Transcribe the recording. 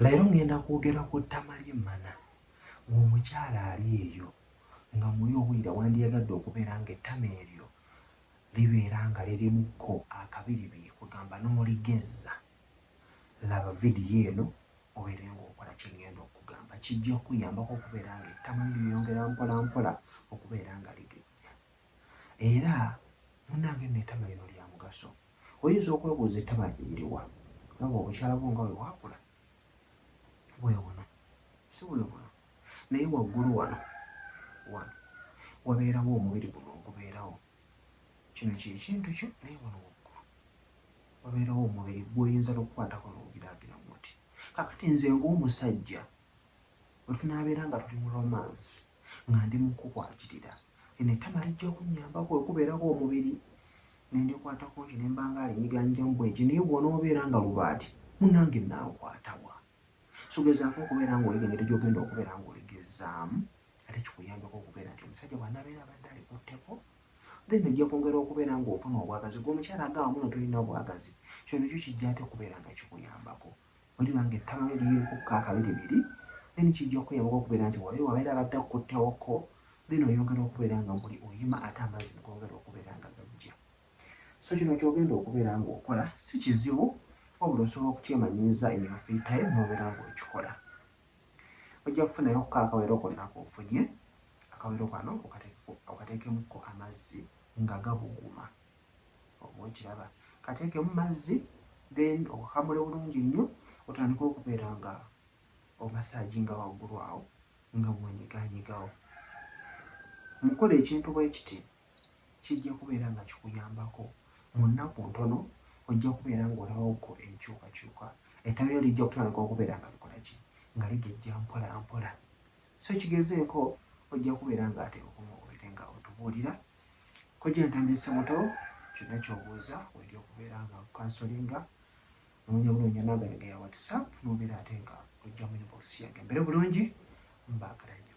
Leero ngenda kwogera ku ttama ly'emmana. Ggwe omukyala ali eyo nga muyi owulira wandiyagadde okubeera ng'ettama eryo libeera nga lirimukko akabiribiri kwegamba n'oligezza? Laba vidiyo eno obeere ng'okola kye ngenda okukugamba. Kijja kukuyambako okubeera ng'ettama lyo lyeyongera mpolampola okubeera nga ligejja. Era munnange nno ettama lino lya mugaso. Oyinza okwebuuza ettama lye liriwa? Olaba obukyala bwo nga bwe bwakula? Bwe buno, si bwe buno, naye waggulu wano, wano, wabeerawo omubiri guno ogubeerawo. Kino kye kintu kyo, naye wano waggulu wabeerawo omubiri gw'oyinza n'okukwatako n'ogiraagira bw'oti. Kaakati nze ng'omusajja. Bwe tunaabeera nga tuli mu lomansi, nga ndi mu kukwagirira, lino ettama lijja okunnyamba kwe kubeerako omubiri ne ndikwata kungi ne mba nga alinyiganyigamu bwentyo naye bw'onoobeera nga lubaati, munnange nnaakukwata wa? So gezaako okubeera ng'oliga engeri gy'ogenda okubeera ng'oligezzaamu ate kikuyambeko okubeera nti omusajja bw'anaabeera abadde alikutteko then ojja kwongera okubeera ng'ofuna obwagazi. Ggwe omukyala ag'awamu no tolina bwagazi, kino nakyo kijja ate okubeera nga kikuyambako. Bweliba nga ettama lyo liri mukukka akabiri biri then kijja kukuyamba ko okubeera nti wayo wabeera abadde akukutte wo ko then oyongera okubeera nga buli oyima ate amazzi negongera okubeera nga gajja so kino kyogenda okubeera nga okola si kizibu wabula osobola okukyemanyiiza in your free time nobeera nga okikola ojja kufunayo ko akawero konna kofunye akawero kano okatekemu ko amazzi nga gabuguma. Oba okiraba? Kateekemu mazzi, then okakamule bulungi nnyo, otandike okubeera nga omasaaginga waggulu awo, nga bw'onyigaanyigawo. Mu kukola ekintu bwe kiti, kijja kubeera nga kikuyambako. Mu nnaku ntono, ojja kubeera nga olabawoko enkyukakyuka. Ettabi lyo lijja kutandika okubeera nga likola ki? Nga ligejja mpolampola. So kigezeeko ojja kubeera nga ate okuva obere nga otubuulira. Kojja Ntambi Ssemuto kyonna ky'obuuza wendi okubeera nga nkukansolinga noonya bunoonya namba yange ya WhatsApp n'obeera ate nga ojja mu inbox yange mbeere bulungi mbaagala nnyo.